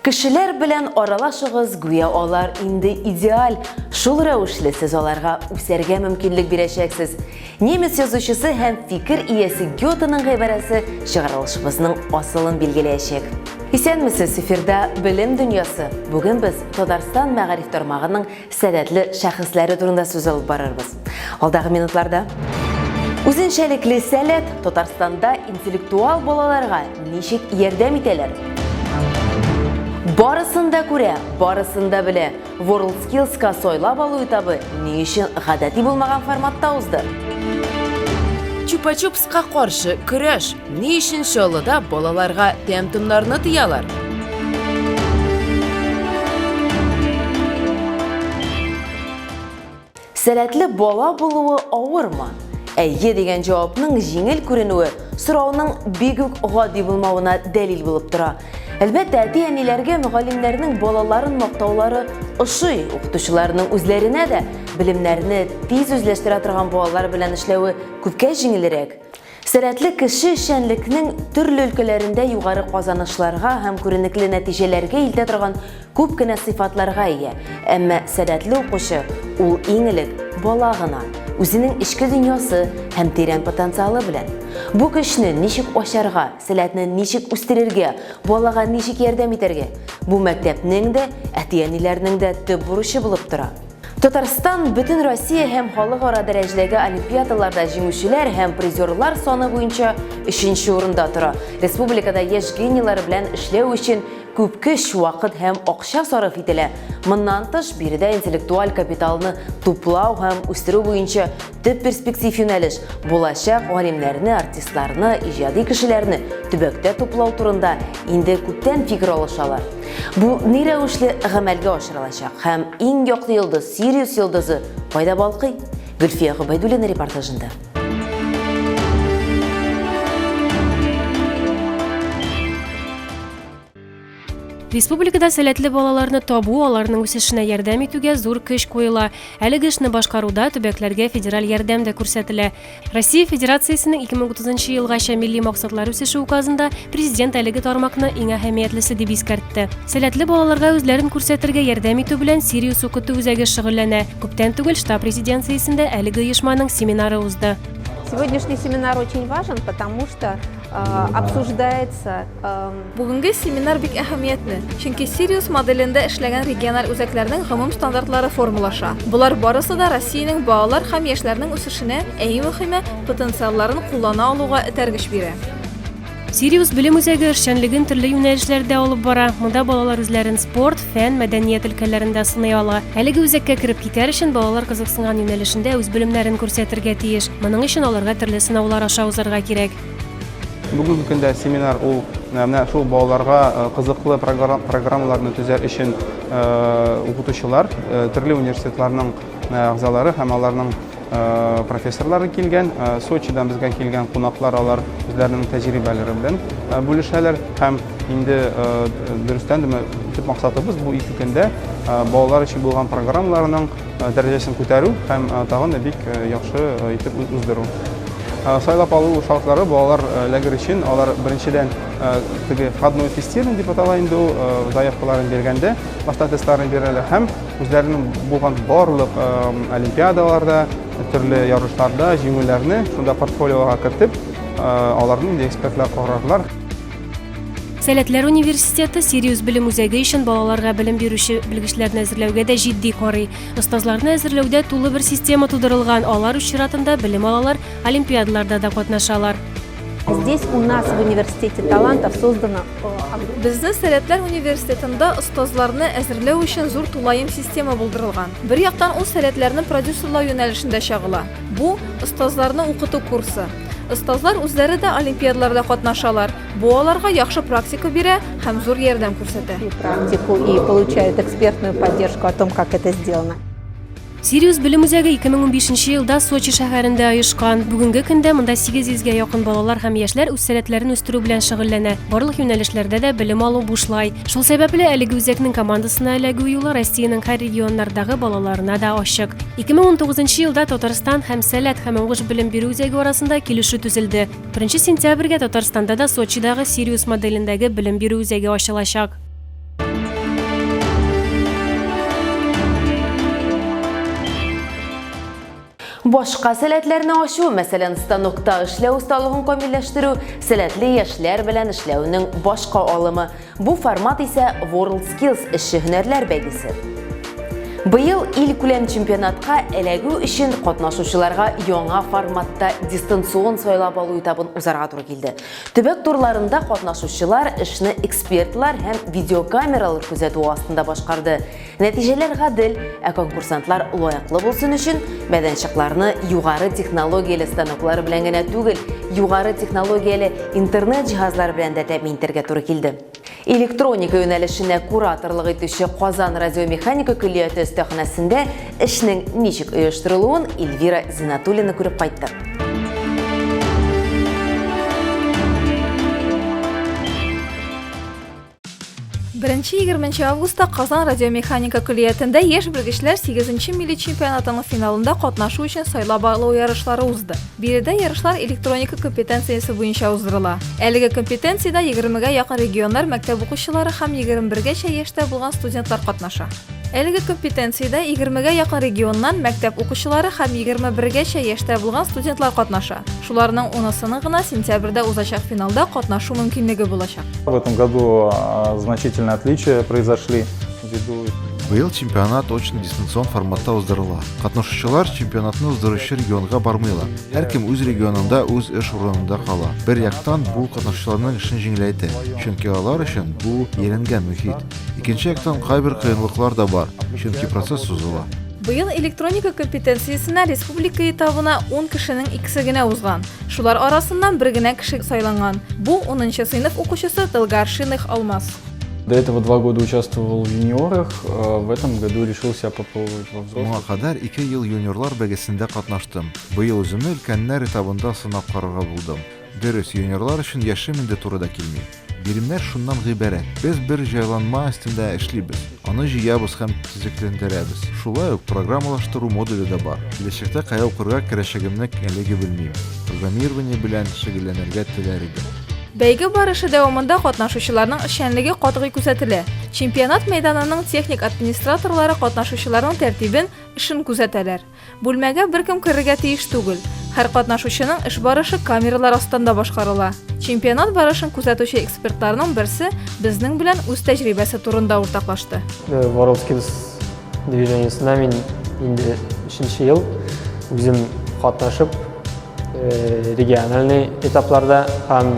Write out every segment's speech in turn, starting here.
Кешеләр белән аралашыгыз, гүя алар инде идеаль. Шул рәвешле сез аларга үсәргә мөмкинлек бирәчәксез. Немец язучысы һәм фикер иясе Гётеның гыйбарәсе чыгарылышыбызның асылын билгеләячәк. Исәнмесез, эфирда Белем дөньясы. Бүген без Татарстан мәгариф тармагының сәләтле шәхесләре турында сүз алып барырбыз. Алдагы минутларда Үзенчәлекле сәләт Татарстанда интеллектуал балаларга ничек ярдәм итәләр? Барысын да күрә, барысын да белә. WorldSkills-ка сайлап алу этабы ни өчен гадәти булмаган форматта узды? Чупа-чупс Ка каршы көрәш. Ни өчен Чаллыда балаларга тәм-томнарны тыялар? Сәләтле бала булуы авырмы? Әйе дигән җавапның җиңел күренүе сорауның бик үк гади булмавына дәлил булып тора. Әлбәттә, әти-әниләргә мөгаллимнәрнең балаларын мактаулары ошый, укытучыларның үзләренә дә белемнәрне тиз үзләштерә торган балалар белән эшләве Күпкә җиңелрәк. Сәләтле кеше эшчәнлекнең төрле өлкәләрендә югары казанышларга һәм күренекле нәтиҗәләргә илтә торган күп кенә сыйфатларга ия. Әмма сәләтле укучы, ул иң элек бала гына, үзенең эчке дөньясы һәм тирән потенциалы белән. Бу көчне ничек ачарга, сәләтне ничек үстерергә, балага ничек ярдәм итәргә, бу мәктәпнең дә, әти-әниләрнең дә төп бурычы булып тора. Татарстан Бөтенроссия һәм халыкара дәрәҗәдәге олимпиадаларда җиңүчеләр һәм призерлар саны буенча өченче урында тора. Республикада яшь гениелар белән эшләү өчен күп көч, вакыт һәм акча сарыф ителә. Моннан тыш, биредә интеллектуаль капиталны туплау һәм үстерү буенча Төп перспектив юнәлеш булачак галимнәрне, артистларны, иҗади кешеләрне төбәктә туплау турында инде күптән фикер алышалар. Бу ни рәвешле гамәлгә ашырылачак һәм иң яклы йолдыз, Сириус йолдызы кайда балкый? Гөлфия Гобәйдуллина репортажында. Республикада сәләтле балаларны табу, аларның үсешенә ярдәм итүгә зур көч куела. Әлеге эшне башкаруда төбәкләргә федераль ярдәм дә күрсәтелә. Россия Федерациясенең 2030 елгача милли максатлар үсеше указында президент әлеге тармакны иң әһәмиятлесе дип искәртте. Сәләтле балаларга үзләрен күрсәтергә ярдәм итү белән Сириус укыту үзәге шөгыльләнә. Күптән түгел штаб резиденциясендә әлеге оешманың семинары узды. Сегодняшний семинар очень важен, потому что э, обсуждается Бүгенге семинар бик әһәмиятле, чөнки Сириус моделендә эшләгән региональ үзәкләрнең гомум стандартлары формалаша. Болар барысы да Россиянең балалар һәм яшьләрнең үсешенә, ә иң мөхиме, потенциалларын куллана алуга этәргеч бирә. Сириус белем үзәге эшчәнлеген төрле юнәлешләрдә алып бара. Монда балалар үзләрен спорт, фән, мәдәният өлкәләрендә сыный ала. Әлеге үзәккә кереп китәр өчен балалар кызыксынган юнәлешендә үз белемнәрен күрсәтергә тиеш. Моның өчен аларга төрле сынаулар аша узарга кирәк. Бүгенге көндә семинар ул менә шул балаларга кызыклы программаларны төзәр өчен укытучылар, төрле университетларның әгъзалары һәм аларның профессорлары килгән. Сочидан безгә килгән кунаклар алар үзләренең тәҗрибәләре белән бүлешәләр һәм инде дөрестән дә төп максатыбыз бу ике көндә балалар өчен булган программаларның дәрәҗәсен күтәрү һәм тагын да бик яхшы итеп уздыру. Сайлап алу шартлары балалар лагерь өчен алар беренчедән теге входной тестирование дип атала инде ул заявкаларын биргәндә башта тестларын бирәләр һәм үзләренең булган барлык олимпиадаларда төрле ярышларда җиңүләрне шунда портфолиога кертеп аларны экспертлар карарлар Сәләтләр университеты Сириус белем үзәге өчен балаларга белем бирүче белгечләрне әзерләүгә дә җитди карый. Остазларны әзерләүдә тулы бер система тудырылган, алар үз чиратында белем алалар, олимпиадаларда да катнашалар. Здесь у нас в университете талантов создано Безнең Сәләтләр университетында остазларны әзерләү өчен зур тулаем система булдырылган. Бер яктан ул сәләтләрне продюсерлау юнәлешендә чагыла. Бу, остазларны укыту курсы. Остазлар үзләре дә олимпиадаларда катнашалар. Бу аларга яхшы практика бирә һәм зур ярдәм күрсәтә. практику и получают экспертную поддержку о том, как это сделано. Сириус белем үзәге 2015 елда Сочи шәһәрендә оешкан. Бүгенге көндә монда 800 гә якын балалар һәм яшьләр үз сәләтләрен үстерү белән шөгыльләнә. Барлык юнәлешләрдә дә белем алу бушлай. Шул сәбәпле әлеге үзәкнең командасына эләгү юлы Россиянең һәр регионнардагы балаларына да ачык. 2019 елда Татарстан һәм Сәләт һәм уңыш белем бирү үзәге арасында килешү төзелде. 1 сентябрьгә Татарстанда да Сочидагы Сириус моделендәге белем бирү үзәге ачылачак. Башка сәләтләрне ачу, мәсәлән, станокта эшләү осталыгын камилләштерү, сәләтле яшьләр белән эшләүнең башка алымы. Бу формат исә WorldSkills эшче һөнәрләр бәйгесе. Быел ил күләм чемпионатка эләгү өчен катнашучыларга яңа форматта дистанцион сайлап алу этабын узарга туры килде. Төбәк турларында катнашучылар эшне экспертлар һәм видеокамералар күзәтүе астында башкарды. Нәтиҗәләр гадел, ә конкурсантлар лаеклы булсын өчен мәйданчыкларны югары технологияле станоклар белән генә түгел, югары технологияле интернет җиһазлары белән дә тәэмин итәргә туры килде. Электроника юнәлешенә кураторлык итүче Казан радиомеханика көллияте өстәханәсендә эшнең ничек оештырылуын Эльвира Зинатуллина күреп кайтты. Беренче 20 августта Казан радиомеханика көллиятендә яшь белгечләр 8 милли чемпионатының финалында катнашу өчен сайлап алу ярышлары узды. Биредә ярышлар электроника компетенциясе буенча уздырыла. Әлеге компетенциядә 20 гә якын регионнар мәктәп укучылары һәм 21 гәчә яшьтә булган студентлар катнаша. Әлеге компетенциядә 20-гә якын регионнан мәктәп укучылары һәм 21-гәчә яшьтә булган студентлар катнаша. Шуларның унысының гына сентябрьдә узачак финалда катнашу мөмкинлеге булачак. В этом году а, значительные отличия произошли ввиду Быел чемпионат очно дистанцион форматта уздырыла. Катнашучылар чемпионатны уздыручы регионга бармыйлар. Һәркем үз регионында үз эш урынында кала. Бер яктан бу катнашучыларның эшен җиңеләйтә, чөнки алар өчен бу еренген мөхит. Икенче яктан кайбер кыенлыклар да бар, чөнки процесс сузыла. Быел электроника компетенциясенә республика этабына 10 кешенең икесе генә узган. Шулар арасыннан бер генә кеше сайланган. Бу 10 сыйныф укучысы Тылгар Шиных Алмаз. До этого два года участвовал в юниорах, э, в этом году решил себя попробовать во взрослых. Моңа кадәр 2 ел юниорлар бәгесендә катнаштым. Быел үземне өлкәннәр этабында сынап карарга булдым. Дөрес, юниорлар өчен яшем инде туры да килми. Биремнәр шуннан гыйбарәт. Без бер җайланма өстендә эшлибез. Аны җыябыз һәм төзекләндерәбез. Шулай ук программалаштыру модуле дә бар. Киләчәктә кая укырга керәчәгемне әлеге белмим. Программирование белән шөгыльләнергә теләр идем. Бәйге барышы дәвамында катнашучыларның эшчәнлеге катгый күзәтелә. Чемпионат мәйданының техник администраторлары катнашучыларның тәртибен, эшен күзәтәләр. Бүлмәгә беркем керергә тиеш түгел. Һәр катнашучының эш барышы камералар астында башкарыла. Чемпионат барышын күзәтүче экспертларның берсе безнең белән үз тәҗрибәсе турында уртаклашты. Э, Воровскис движениесенә мин инде өченче ел үзем катнашып Э, региональный этапларда һәм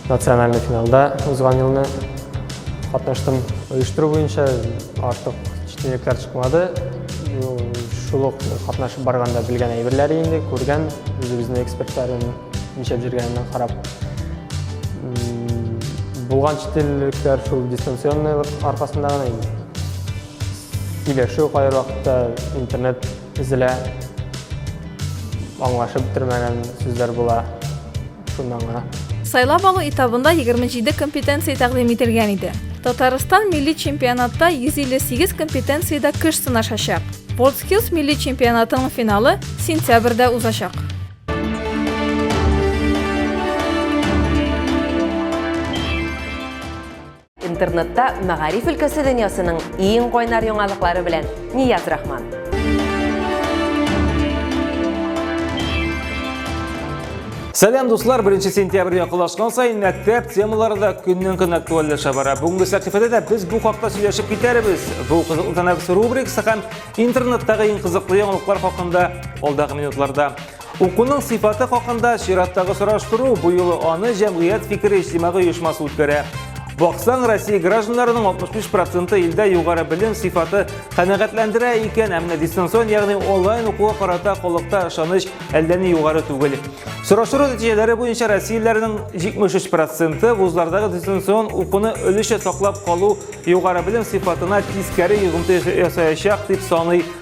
национальный финалда узган елны катнаштым. Оештыру буенча артык читенлекләр чыкмады. Шул ук катнашып барганда белгән әйберләр инде, күргән, үзебезнең экспертларын ничәп җиргәненә карап. Булган читенлекләр шул дистанционный аркасында гына инде. Сөйләшү кайвакытта интернет Тезелә. Аңлашып бетермәгән сүзләр була. Шуннан гына. Сайлап алу этабында 27 компетенция тәкъдим ителгән иде. Татарстан милли чемпионатта 158 компетенциядә көч сынашачак. WorldSkills милли чемпионатының финалы сентябрьдә узачак. Интернетта мәгариф өлкәсе дөньясының иң кайнар яңалыклары белән Нияз Рахман. Сәлам дуслар, 1 сентябрь якынлашкан сайын мәктәп темалары да көннән-көн актуальләшә бара. Бүгенге сәхифәдә дә без бу хакта сөйләшеп китәрбез. Бу кызыклы тәнәфес рубрикасы һәм интернеттагы иң кызыклы яңалыклар хакында алдагы минутларда. Укуның сыйфаты хакында чираттагы сораштыру бу юлы аны җәмгыять фикере иҗтимагый оешмасы үткәрә. Баксаң, Россия гражданнарының 65 проценты илдә югары белем сыйфаты канәгатьләндерә икән, әмма дистанцион, ягъни онлайн укуга карата халыкта ышаныч әллә ни югары түгел. Сораштыру нәтиҗәләре буенча россияләрнең 73 проценты вузлардагы дистанцион укуны өлешчә саклап калу югары белем сыйфатына тискәре йогынты ясаячак дип саный.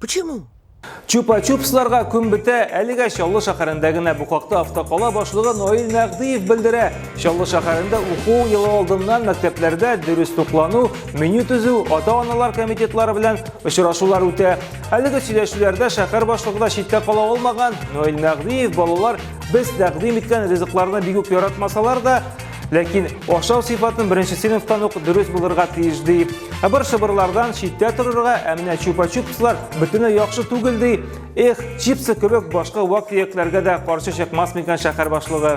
Почему? Чупа-чупсларга күн бетә, әлегә Чаллы шәһәрендә генә бу хакта автокала башлыгы Наил Мәгъдиев белдерә. Чаллы шәһәрендә уку елы алдыннан мәктәпләрдә дөрес туклану, меню төзү, ата-аналар комитетлары белән очрашулар үтә. Әлеге сөйләшүләрдә шәһәр башлыгы да читтә кала алмаган. Наил Мәгъдиев балалар без тәкъдим иткән ризыкларны бик үк яратмасалар да, Ләкин ашау сыйфатын беренче сыйныфтан ук дөрес булырга тиеш ди. Ә бер шыбырлардан читтә торырга, ә менә чупа-чупслар бөтенләй яхшы түгел ди. Эх, чипсы кебек башка вак төякләргә дә каршы чыкмас микән шәһәр башлыгы.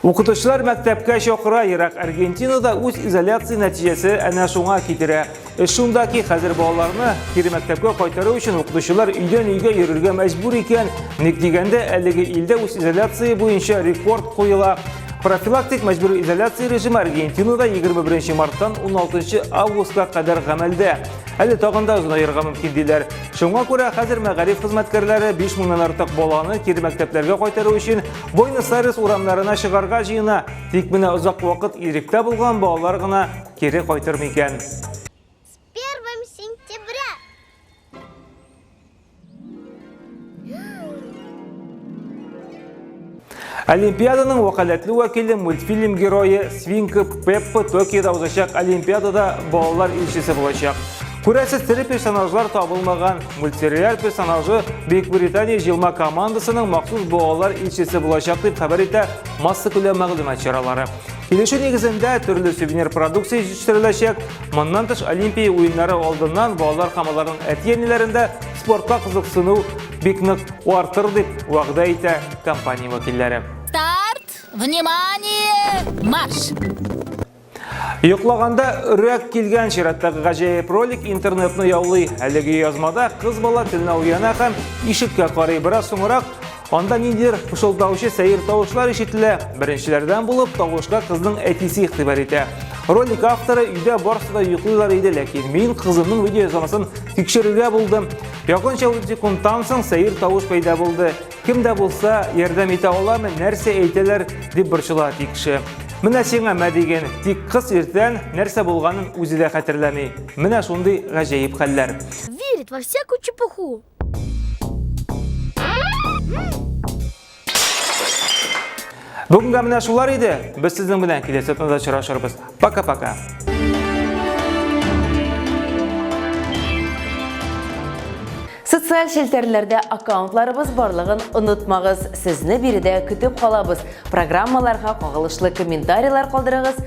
Укытучылар мәктәпкә чакыра ерак Аргентинада үз изоляция нәтиҗәсе әнә шуңа китерә. Эш шунда ки, хәзер балаларны кире мәктәпкә кайтару өчен укытучылар өйдән өйгә йөрергә мәҗбүр икән. Ник дигәндә, әлеге илдә үз изоляция буенча рекорд куела. Профилактик мәҗбүри изоляция режимы Аргентинада 21 марттан 16 августка кадәр гамәлдә. Әле тагын да озынаерга мөмкин диләр. Шуңа күрә хәзер мәгариф хезмәткәрләре 5 меңнән артык баланы кире мәктәпләргә кайтару өчен Буэнос-Айрес урамнарына чыгарга җыена, тик менә озак вакыт иректә булган балалар гына кире кайтыр микән? С 1 сентября! Олимпиаданың вәкаләтле вәкиле мультфильм герое Свинка Пеппа Токиода узачак Олимпиадада балалар илчесе булачак. Күрәсез тере персонажлар табылмаган. Мультсериал персонажы Бөекбритания җылма командасының махсус буалар илчесе булачак дип хәбәр итә массакүләм мәгълүмат чаралары. Килешү нигезендә төрле сувенир продукция җитештереләчәк. Моннан тыш Олимпия уеннары алдыннан балалар һәм аларның әти-әниләрендә спортка кызыксыну бик нык артыр дип вәгъдә итә компания вәкилләре. Старт! Внимание! Марш! Йоклаганда өрәк килгән чираттагы гаҗәеп ролик интернетны яулый. Әлеге язмада кыз бала телне уяна һәм ишеккә карый. Бераз соңрак анда ниндидер пышылдаучы сәер тавышлар ишетелә. Беренчеләрдән булып тавышка кызның әтисе игътибар итә. Ролик авторы өйдә барысы да йоклыйлар иде, ләкин мин кызымның видеоязмасын тикшерергә булдым. Якынча 30 секундтан соң сәер тавыш пәйда булды. Кем дә булса ярдәм итә аламы, нәрсә әйтәләр дип борчыла тикше. Менә сиңа мә диген, тик кыз иртән нәрсә булганын үзе дә хәтерләми. Менә шундый гаҗәеп хәлләр. Верит во всякую чепуху. Бүгенгә менә шулар иде. Без сезнең белән киләсе атнада очрашырбыз. Пока-пока. Социаль челтәрләрдә аккаунтларыбыз барлыгын онытмагыз. Сезне биредә көтеп калабыз. Программаларга кагылышлы комментарийлар калдырыгыз,